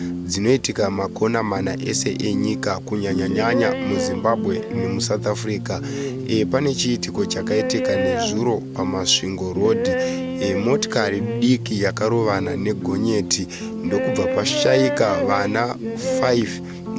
dzinoitika makona mana ese enyika kunyanyanyanya muzimbabwe nemusouth africa e, pane chiitiko chakaitika nezuro pamasvingo road e, motikari diki yakarovana negonyeti ndokubva pashaika vana 5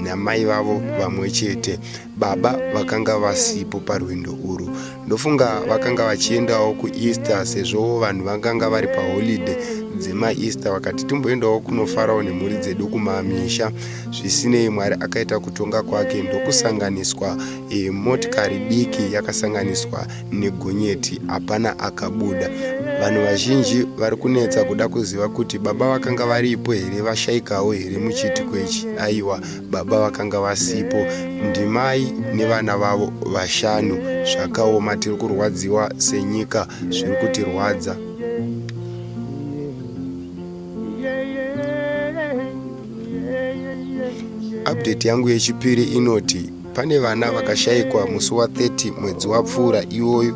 namai vavo vamwe chete Baba vakanga vasipo parwendo urwu. Ndofunga vakanga vachiendawo kuEaster sezvo vanhu vakanga vari paholiday dzemaEaster vakati timboendawo kunofarawo nemhuri dzedu kumamisha. Zvisinei Mwari akaita kutonga kwake ndokusanganiswa e, motikari diki yakasanganiswa negonyeti hapana akabuda. Vanhu vazhinji vari kunetsa kuda kuziva kuti baba vakanga varipo here vashaikawo here muchiitiko ichi. Aiwa, baba vakanga vasipo ndimai nevana vavo vashanu zvakaoma tiri kurwadziwa senyika zviri kutirwadza update yangu yechipiri inoti pane vana vakashaikwa musi wa 30 mwedzi wapfuura iwoyo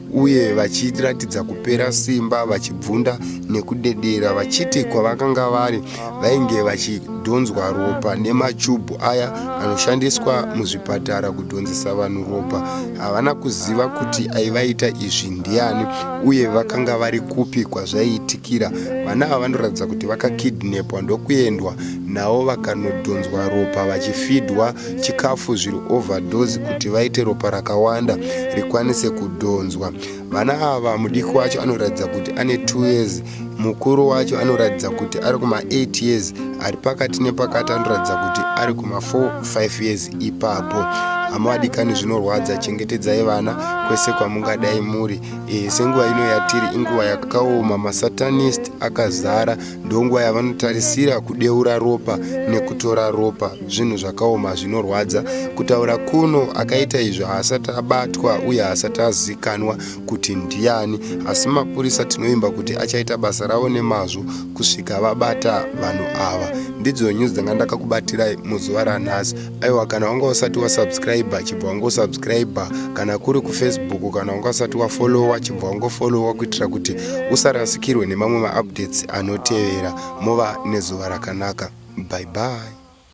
uye vachiratidza kupera simba vachibvunda nekudedera vachiti kwavakanga vari vainge vachidhonzwa ropa nemachubhu aya anoshandiswa muzvipatara kudhonzesa vanhu ropa havana kuziva kuti aivaita izvi ndiani uye vakanga vari kupi kwazvaiitikira vana ava vanoratidza kuti vakakidnepwa ndokuendwa navo vakanodhonzwa ropa vachifidwa chikafu zviri overdose kuti vaite ropa rakawanda rikwanise kudhonzwa vana ava mudiki wacho anoratidza kuti ane 2 years mukuru wacho anoratidza kuti ari kuma8 years ari pakati nepakati anoratidza kuti ari kuma45 years ipapo hama vadikani zvinorwadza chengetedzai vana kwese kwamungadai muri e, senguva ino yatiri inguva yakaoma masatanist akazara ndonguva yavanotarisira kudeura ropa nekutora ropa zvinhu zvakaoma zvinorwadza kutaura kuno akaita izvi haasati abatwa uye haasati azikanwa kuti ndiani asi mapurisa tinovimba kuti achaita basa ravo nemazvo kusvika vabata vanhu ava ndidzo nyuzi dzanga ndakakubatirai muzuva ranhasi aiwa kana wanga usati wasubscribe chibva wangosubscribe kana kuri kufacebook kana wanga usati wafollowa chibva wangofollowa kuitira kuti usarasikirwe nemamwe maupdates anotevera mova nezuva rakanaka bye bye